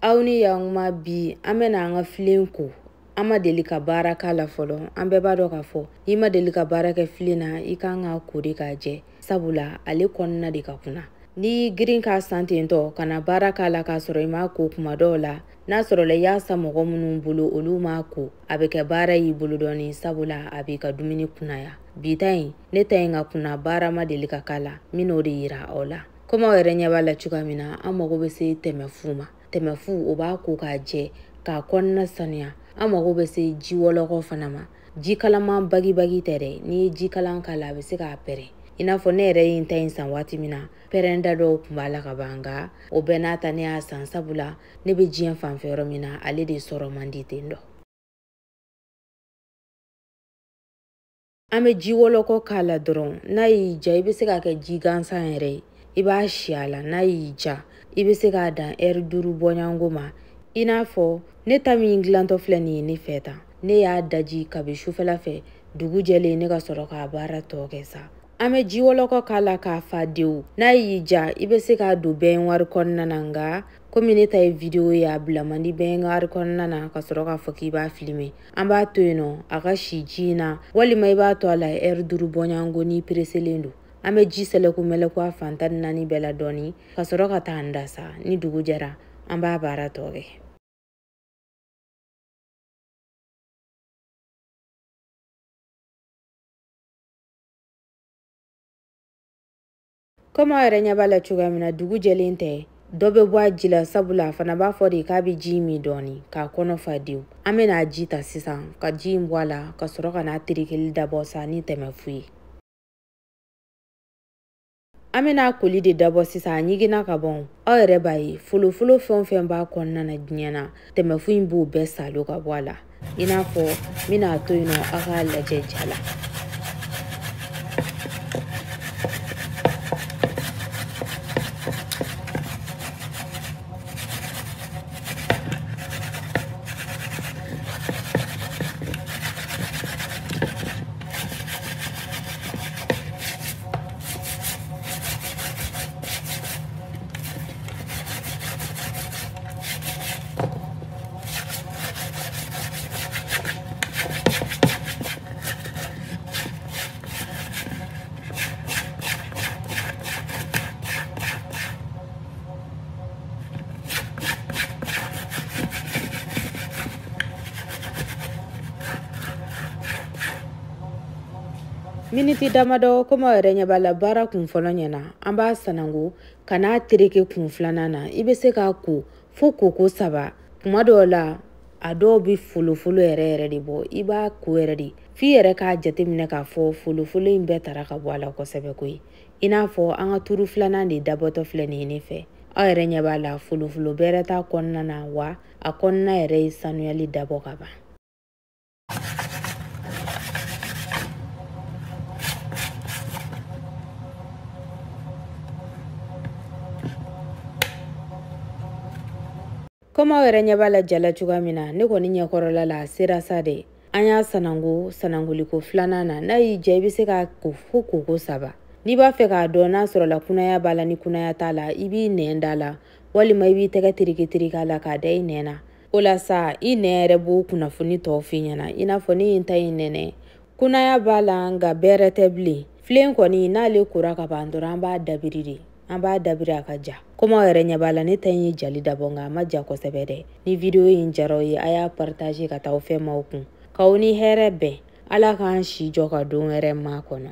aw ni yankuma bi an bɛna an ka filen ko an ma deli ka baara k'a la fɔlɔ an bɛɛ b'a dɔn k'a fɔ n'i ma deli ka baara kɛ filen na i kan k'a ko de k'a jɛ sabula ale kɔnɔna de ka kunna n'i y'i girin k'a san ten tɔ ka na baara k'a la k'a sɔrɔ i m'a ko kuma dɔw la n'a sɔrɔla i y'a san mɔgɔ minnu bolo olu m'a ko a bɛ kɛ baara y'i bolo dɔɔni sabula a b'i ka dumuni kunnaya bi ta in ne ta in ka kunna baara ma deli ka k'a la n bɛn'o de yira aw la komi aw yɛrɛ ɲɛ b'a la cogoya min na an mago bɛ se tɛmɛfu ma tɛmɛfu o b'a ko k'a jɛ k'a kɔnɔna sanuya an mago bɛ se ji wɔlɔkɔ fana ma ji kalaman bagibagi tɛ dɛ n'i ye ji kalan k'a la a bɛ se k'a pɛrɛn i n'a fɔ ne yɛrɛ ye n ta in san waati min na pɛrɛnda dɔw tun b'a la ka ban nka o bɛɛ n'a ta ne y'a san sabula ne bɛ diɲɛ fanfɛ yɔrɔ min na ale de sɔrɔ man di ten dɔ an bɛ ji wɔlɔkɔ k'a la dɔrɔn n'a y'i ja i bɛ se k'a kɛ ji gansan yɛrɛ ye i b'a si a la n'a y'i ja i bɛ se k'a dan ɛri duuru bɔɲɔgɔnko ma i n'a fɔ ne ta min dilantɔ filɛ nin ye ne fɛ tan ne y'a daji kabi sufɛla fɛ dugu jɛlen ne ka sɔrɔ k'a baara tɔ kɛ sa an bɛ ji wɔlɔkɔ k'a la k'a fa dewu n'a y'i ja i bɛ se k'a don bɛnwari kɔnɔna na nka komi ne ta ye wideyo ye a bila man di bɛnwari kɔnɔna na ka sɔrɔ k'a fɔ k'i b'a filime an b'a to yen nɔ a ka si ji in na walima i b'a to a la ɛri duuru bɔɲɔgɔnko n'i pereselen don an bɛ ji sɛlɛku mɛlɛku a fan tan ni naani bɛɛ la dɔɔni ka sɔrɔ ka taa an da sa ni dugu jɛra an b'a baara tɔ kɛ komi aw yɛrɛ ɲɛ b'a la cogoya min na dugu jɛlen tɛ dɔ bɛ bɔ a ji la sabula a fana b'a fɔ de k'a bɛ ji min dɔɔni k'a kɔnɔ fa dewu an bɛna a ji ta sisan ka ji in bɔ a la ka sɔrɔ ka n'a terekeli dabɔ sa ni tɛmɛfu ye an bɛna a koli de dabɔ sisan a ɲiginna ka ban aw yɛrɛ b'a ye folofolo fɛn o fɛn b'a kɔnɔna na diɲɛ na tɛmɛfu in b'o bɛɛ saalo ka bɔ a la i n'a fɔ n bɛn'a to yen nɔ aw k'a lajɛ ja la miniti damadɔ komi aw yɛrɛ ɲɛ b'a la baara kun fɔlɔ ɲɛna an b'a sananko ka n'a tereke kun filanan na i bɛ se k'a ko fo koko saba kuma dɔw la a dɔw bɛ folofolo yɛrɛ yɛrɛ de bɔ i b'a ko yɛrɛ de f'i yɛrɛ k'a jateminɛ k'a fɔ folofolo in bɛɛ tara ka bɔ a la kosɛbɛ koyi i n'a fɔ an ka turu filanan de dabɔtɔ filɛ nin ye ne fɛ aw yɛrɛ ɲɛ b'a la folofolo bɛrɛ t'a kɔnɔna na wa a kɔnɔna yɛrɛ ye sanuyali dabɔ ka ban komi aw yɛrɛ ɲɛ b'a la jala cogoya min na ne kɔni ɲɛkɔrɔla la a sera sa de an y'a sanango sanangoliko filanan na n'a y'i diya i bɛ se k'a ko fo koko saba n'i b'a fɛ k'a dɔn n'a sɔrɔla kunaya b'a la ni kunaya t'a la i b'i nɛn da a la walima i b'i tɛgɛ tereketereke a la k'a da i nɛn na o la sa i nɛn yɛrɛ b'o kunnafoni tɔw f'i ɲɛna i n'a fɔ ne ye n ta in nɛnɛ kunaya b'a la nka bɛrɛ tɛ bilen filen kɔni n'ale kora ka ban dɔrɔn an b'a dabiri de an b'a dabiri a ka ja komi aw yɛrɛ ɲɛ b'a la ne ta in ye jali dabɔ nka a ma ja kosɛbɛ dɛ ni video in diyara aw ye a y'a partage ka taa aw fɛnmaw kun k'aw ni hɛrɛ bɛn ala k'an si jɔ ka don wɛrɛ makɔnɔ